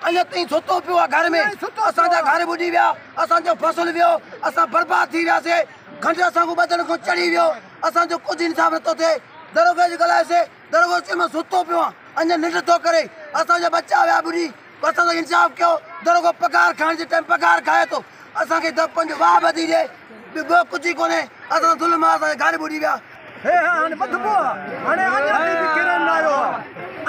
اڃا تائين ستو پيو آ گهر ۾ اسان جا گهر ٻڏي ويا اسان جو فصل ويو اسان برباد ٿي وياسي کنڊ اسان کان ٻڌڻ کان چڙهي ويو اسان جو ڪجهه انصاف نٿو ٿئي دروگي کي ڳالهايو سي دروازي مان ستو پيو آن اڃا ننڊ ٿو ڪري اسان جا ٻچا ويا ٻڏي اسان سان انصاف ڪيو دروگو پگهار کائڻ جي ٽائيم پگهار کائي ٿو اسان کي ته پنج واهه ٻڌي ڏي ٻيو ڪجهه ئي ڪونهي اسان سان ظلم آ اسان جا گهر ٻڏي ويا هي هي هاڻي ٻڌبو آ هاڻي اڃا تي به ڪيرن نه آيو آ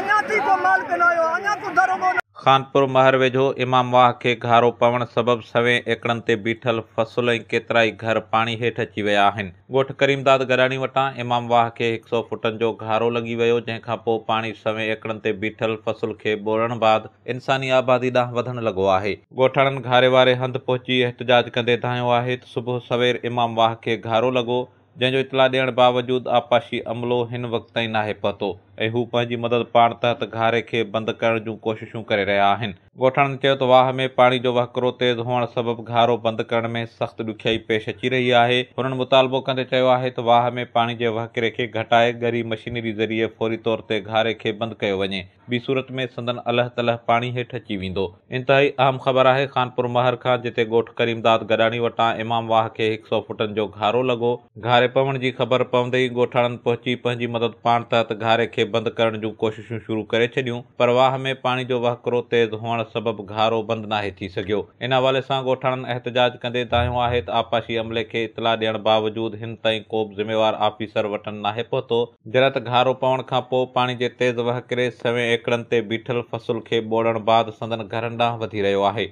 اڃا تي ڪو مالڪ نه آيو آ اڃا ڪو دروگو نه. خانپور مهر ويجهو امام واهه کي گهارو پوڻ سبب سوين ايڪڙن تي بيٺل فصل ۽ ڪيترائي گهر پاڻي هيٺ اچي ويا آهن. ڳوٺ ڪريمداد گڏاڻي وٽان امام واهه کي هڪ سئو فوٽن جو گهارو لڳي ويو، جنهن کان پوء پاڻي سوين ايڪڙن تي بيٺل فصل کي ٻوڙڻ بعد انساني آبادي ڏانهن وڌڻ لڳو آهي. ڳوٺاڻن گهاري واري هنڌ پهچي احتجاج ڪندي دانهيو آهي ته صبح سوير امام واهه کي گهارو لڳو، جنهن جو اطلاع ڏيڻ باوجود آبپاشي عملو هن وقت تائين ناهي پهتو ۽ هو پنهنجي مدد پاڻ تحت گهاري کي بند ڪرڻ جون ڪوششون ڪري رهيا آهن. ڳوٺاڻن چيو ته واهه ۾ پاڻي جو وهڪرو تيز هئڻ سبب گهارو بند ڪرڻ ۾ سخت ڏکيائي پيش اچي رهي آهي، هنن مطالبو ڪندي چيو آهي ته واهه ۾ پاڻي جي وهڪري کي گهٽائي ڳري مشينري ذريعي فوري طور تي گهاري کي بند ڪيو وڃي، ٻي صورت ۾ سندن الهه تلهه پاڻي هيٺ اچي ويندو. انتهائي اهم خبر آهي خانپور مهر کان جتي ڳوٺ ڪريم داد گڏاڻي وٽان امام واهه کي هڪ سئو فوٽن جو گهارو لڳو، گهاري پوڻ جي خبر پوندي ئي ڳوٺاڻن پهچي پنهنجي مدد پاڻ تحت گهاري کي بند ڪرڻ جون ڪوششون شروع ڪري ڇڏيون پر واهه ۾ پاڻي جو وهڪرو تيز هئڻ سبب گهارو بند ناهي ٿي سگهيو ان حوالي سان ڳوٺاڻن احتجاج ڪندي دانهيو آهي ته آبپاشي عملي کي اطلاع ڏيڻ باوجود هن تائين ڪوبه ذميوار آفيسر وٽن ناهي پهتو جڏهن ته گهارو پوڻ کان پوء پاڻي جي تيز وهڪري سوين ايڪڙن تي بيٺل فصل کي ٻوڙڻ بعد سندن گهرن ڏانهن وڌي رهيو آهي.